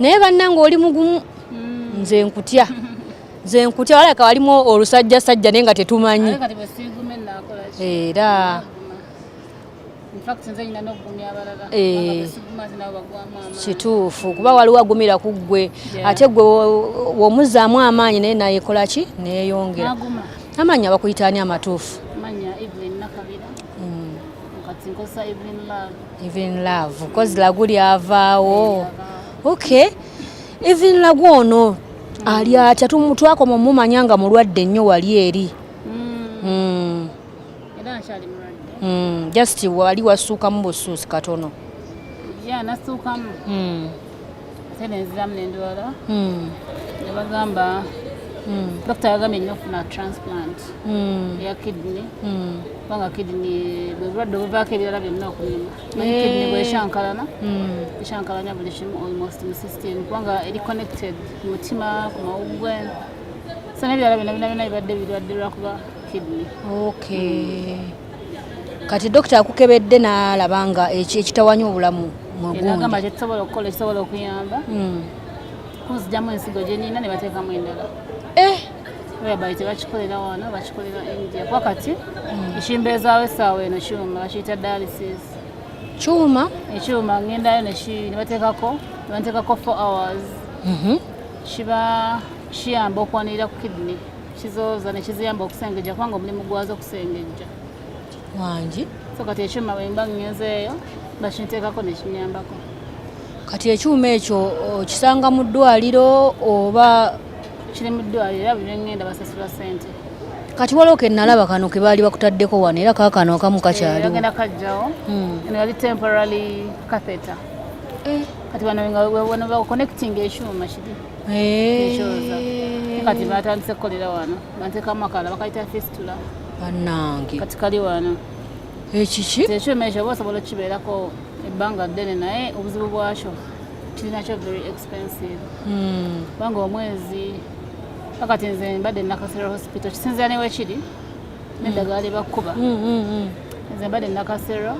naye bannange oli mugumu hmm. nze nkutya nze nkutya walaka walimu olusajja sajja naye nga tetumanyi era eh, kituufu kuba waliwo agumira ku ggwe ate gwe womuzaamu amaanyi naye nayekola ki neyongera amaanyi abakuyitaani amatuufu even love cause lagu lyavaawo okay even lagu ono ali atya twakoma omumanya nga mulwadde nnyo wali eri hmm. Hmm. Hmm. just wali wasuukamu busuusi katono ate nenziramu nendwala hmm. nebagamba hmm. dokita yagambye nyo ofuna transplant hmm. eya kidney kubanga kidney bwebulwadde obuvaako ebirala byonna okumima naye eh. kidney bweshankalana eshankalana buli kimu almost mu system kubanga eri connected ku mutima ku mawugwe so nebirala byonna byonna byonna bibadde birwadde lwakuba kidney okay kati dokita akukebedde n'alaba nga ekitawanya obulamu mugagamba kyetusobola okukola ekisobola okuyamba hmm. kunzijamu ensigo gyenina ne bateekamu endala eh! whereby tebakikolera wano bakikolera india kuba kati hmm. ekimbeezaawo essaawa eno kyuma bakiyita dialysis kyuma ekyuma ngendayo nebateekako nebateekako four hours mhm. kiba kiyamba okwanirira ku kidney kizooza ne kiziyamba okusengejja kubanga omulimu gwazo okusengejja wangi so kati ekyuma bwemba ngenzeeyo bakinteekako nekinyambako kati ekyuma ekyo okisanga mu ddwaliro oba kiri mu ddwaliro era buli ngenda basasula sente kati waliwo ke nalaba kano ke baali bakutaddeko wano era kaakano akamu eh, kakyaliogenda kajjawo hmm. eno yali temporary catheter eh. kati wano nga wano bakuconnecting ekyuma kiri kati batandise kukolera wano banteka amakala bakayita fistula banange kati kali wano ekiki ekyuma ekyo oba osobola okukibeerako ebbanga ddene naye obuzibu bwakyo kirinakyo very expensive hmm. kubanga omwezi kakati nze mbadde nakasera hospital kisinzira newekiri neddagaali bakkuba hmm, hmm, nze mbadde nakasera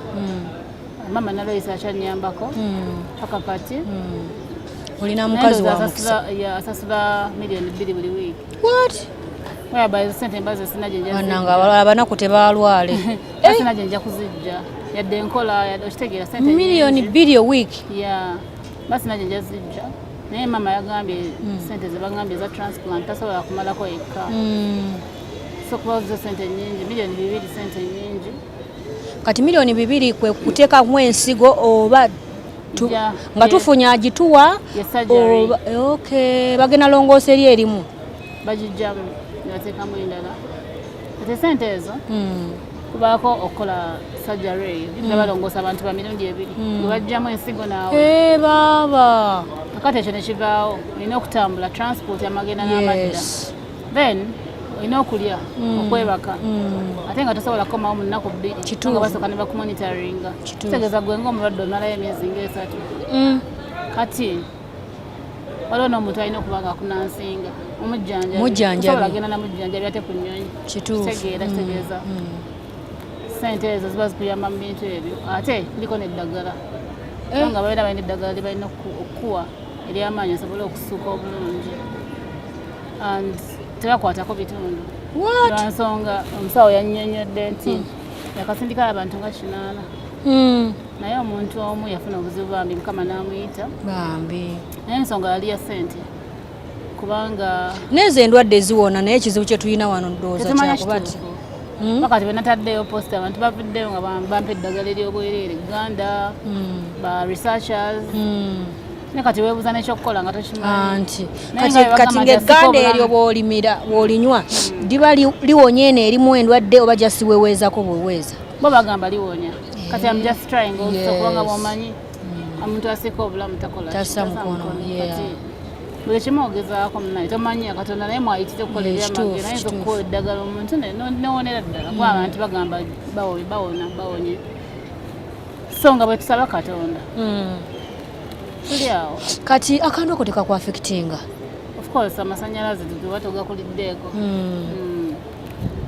mama naloyisa akyanyambako hmm. paka kati hmm. olina mukazi waasasula miliyoni bbiri buli wiiki bananga abalala abanaku tebalwale sina gyenja kuzijja yadde enkola okitegeera miliyoni bbiri owiiki basina gyenja zijja naye maama yagambye hmm. sente zebagambye eza transplant tasobola kumalako yekka sokuba zo sente nyingi miliyoni bibiri sente nyingi kati milioni bibiri kwe kuteekamu ensigo oba tu, yeah, nga yeah. tufunya agituwa okay. bagenda longoosa eri erimu bagijjamu nebateekamu endala ate sente ezo mm. kubaako okukola sajjaro eyo hmm. nabalongoosa mm. abantu ba mirundi ebiri mm. webajjamu ensigo naawe hey, eh, baaba kakati ekyo nekivaawo olina okutambula transport amagenda yes. n'amadda then olina okulya mm. okwebaka mm. ate nga tosobola kukomawo mu nnaku bbiri nga basooka ne bakumonitaringa kitegeeza gwe ngaomulwadde omalayo emyezi ngaesatu mm. kati waliwo n'omuntu alina okuba nga akunansinga omujjanjabisobola genda namujjanjabi ate ku nnyonyi kitegeera kitegeeza sente ezo ziba zikuyamba mu bintu ebyo ate ndiko neddagala eh. nga balina balina eddagala lyebalina okukuwa ery'amaanyi asobole okusuuka obulungi and tebakwatako bitundu lwansonga omusawo yannyonnyodde nti hmm. yakasindika abantu nga kinaana hmm. naye omuntu omu yafuna obuzibu bambi mukama n'amuyita bambi naye ensonga yali ya ssente kubanga nezo endwadde ziwona naye ekizibu kyetulina wano ndowooza kyakuba ti mm. wakati bwenataddeyo post abantu bavuddeyo nga bampa eddagala eryobwereere uganda mm. ba researchers mm. ne kati webuza nekyokukola nga tokimanti ah, kati ngaegganda eryo bwolimira bwolinywa liba liwonya eno erimu endwadde oba jasiweweezako bweweeza bo bagamba liwonya kati am just trying also kubanga bwomanyi omuntu asika obulamu takola tasa mukono buli kimu ogezaako munaye tomanyi katonda naye mwayitire kukola ebyamagero naye zokukola eddagala omuntu newonera ddala kuba mm. abantu bagamba bawona bawonye so nga bwetusaba katonda mm. tuli awo kati akantu ako tekakwafekitinga ofcourse amasanyalaze tuba togakuliddeeko mm.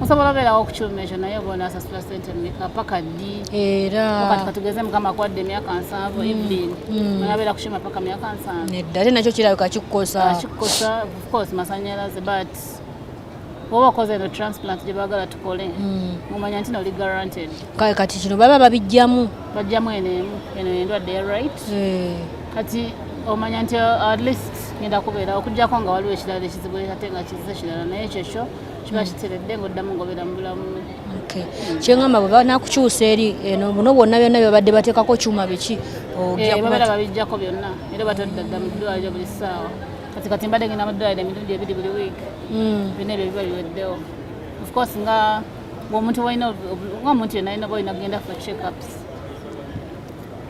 osobola obeerawo okukyuma ekyo naye oba onasasula sente meka paka ddi erakati katugeze mukama kwadde emyaka nsanvu mm. ibin mm. onabeera kukyuma paka myaka nsanvu nedda ate nakyo kirabika kikukosa ah, kikukosa ofcourse masanyalaze but oba okoze eno transplant gye baagala tukole mm. mumanya nti noli guaranted kati kino baba babijjamu bajjamu eno emu eno endwadde ya right eh. kati omanya nti uh, at least ngenda kubeera okujjako nga waliwo ekirala ekizibu ate nga kizize kirala naye ekyo ekyo kiba hmm. kiteredde ngaoddamu ngaobeera mu bulamu hmm. kyengamba bwe banakukyusa eri eno eh, buno bwonna byonna byebabadde bateekako kyuma biki eh, babeera babijjako byonna era batadda dda mu ddwaliro buli ssaawa kati kati mbadde ngenda mu ddwaliro emirundi ebiri buli wiiki hmm. byonna ebyo biba biweddewo ofcourse nga ngaomuntu walina ngaomuntu yonna alina ba olina kugenda for checkups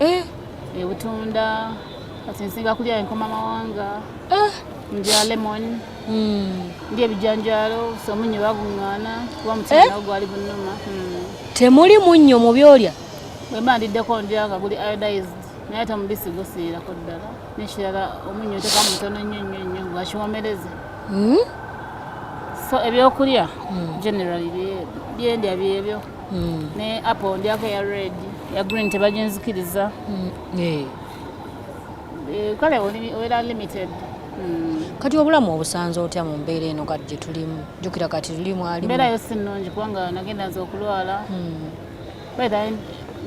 eh. ebutunda kati nsinga kulya enkoma mawanga eh. ndya lemon hmm. ndya ebijanjalo somunyo baguŋŋaana kuba mutima eh? nawo gwali gunuma hmm. temuli munnyo mu byolya bwemba ndiddeko ndya nga guli iodized naye ate omubisi gusiirako ddala nekirala omunnyo nteka mutono nnyo nnyo nnyo gwakiwomereze hmm? so ebyokulya hmm. generally byendya byebyo mm. ne apple ndyako ya red ya green tebaginzikiriza mm. eh. Eh, kale obeera limited mm. kati obulamu obusanze otya mu mbeera eno kati gyetulimu jukira kati tulimu ali mbeera yo si nnungi kubanga nagenda nze okulwala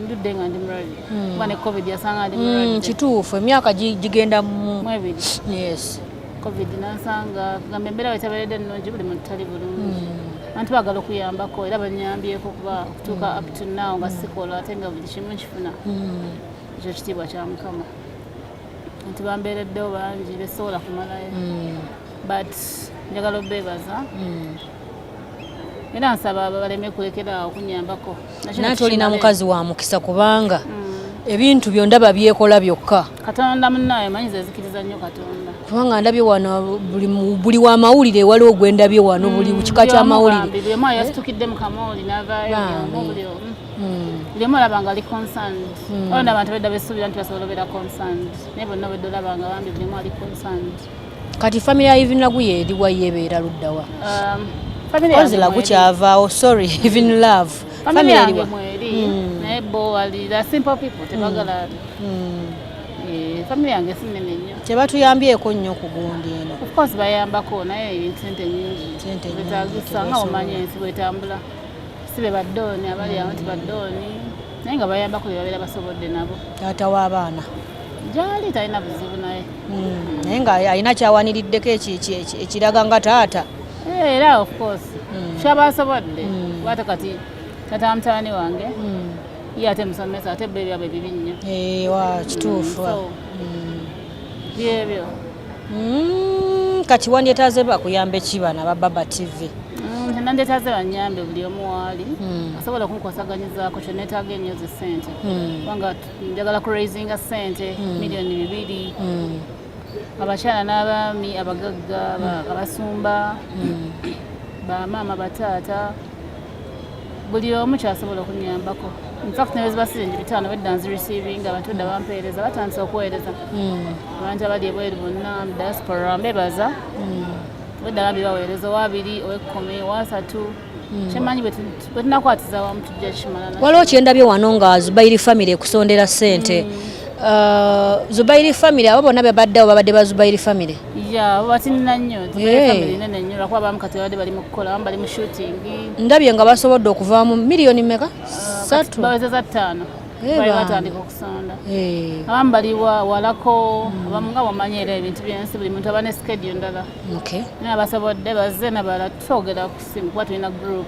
ndudde nga ndi mulwadde kuba ne covid yasanga ndi mulwadde kituufu emyaka gigenda mu mwebiri yes covid nansanga kugamba embeera bwe tabeeredde nnungi buli muntu tali bulungi hmm. abantu bagala okuyambako era banyambyeko kuba okutuuka up to now nga sikola ate nga buli kimu nkifuna hmm. ekyo kitiibwa kya mukama nti bambeereddewo bangi besobola kumalayo hmm. but njagala obeebaza era nsaba baleme kulekera okunyambako naye tolina mukazi wa mukisa kubanga mm. ebintu byo ndaba byekola byokka katonda munaye manyi zezikiriza nnyo katonda kubanga ndabye wano buli wa mawulire waliwo gwe ndabye wano buli mm, kika kya mawulire lemu olaba nga ali concerned mm. olona abantu bedda besuubira nti basobola obeera concerned naye bonna obedde olaba nga bambi bulemu ali concerned kati family ya even lagu ye ediwa yebeera luddawa um, family yange lagu kyavaawo sorry even love family yange mweri hmm. naye bo wali the simple people hmm. tebagala hmm. eh, family yange sinene nnyo tebatuyambyeko nnyo ku gundi eno of course bayambako naye sente nyingi betagisa nga omanya ensi bwetambula si be baddooni abali awo nti baddooni naye nga bayambako bebabeera basobodde nabo taata w'abaana gyali talina buzibu naye hmm, naye nga alina kyawaniriddeko ekiraga nga taata eh, era of course hmm. kyaba asobodde hmm. wate kati tata mutani wange ye ate musomesa ate bbe byabwe bibi nnyo eh, wa kituufu byebyo kati wandyetaze bakuyambe ki bana ba baba tv nandetaze banyambe buli omu waali asobola okunkosaganyizaako kyenetaaga enyo zi sente kubanga njagala ku raisinga sente hmm. miliyoni bibiri hmm. abakyala n'abaami abagagga hmm. abasumba bamaama bataata buli omu kyasobola okunyambako infact nayo ziba siringi bitaano bedda nzireceiving abantu edda bampeereza batandise okuweereza abantu abali ebweru bonna diaspora mbebaza bedda bambi baweereza owabiri owekumi owasatu waliwo kyendabye wano nga zubairi famiry ekusondera sente mm. uh, zubairi famiry abo bonna bebaddewo babadde ba zubairi famiry ndabye nga basobodde okuvaamu miliyoni meka uh, satu batandika okusonda abamu baliwa walako mm. abamu nga wamanyi era ebintu byensi buli muntu aba ne skedyo ndala Okay. Nabasobodde bazze nabalala tusoogera ku simu kuba tulina group.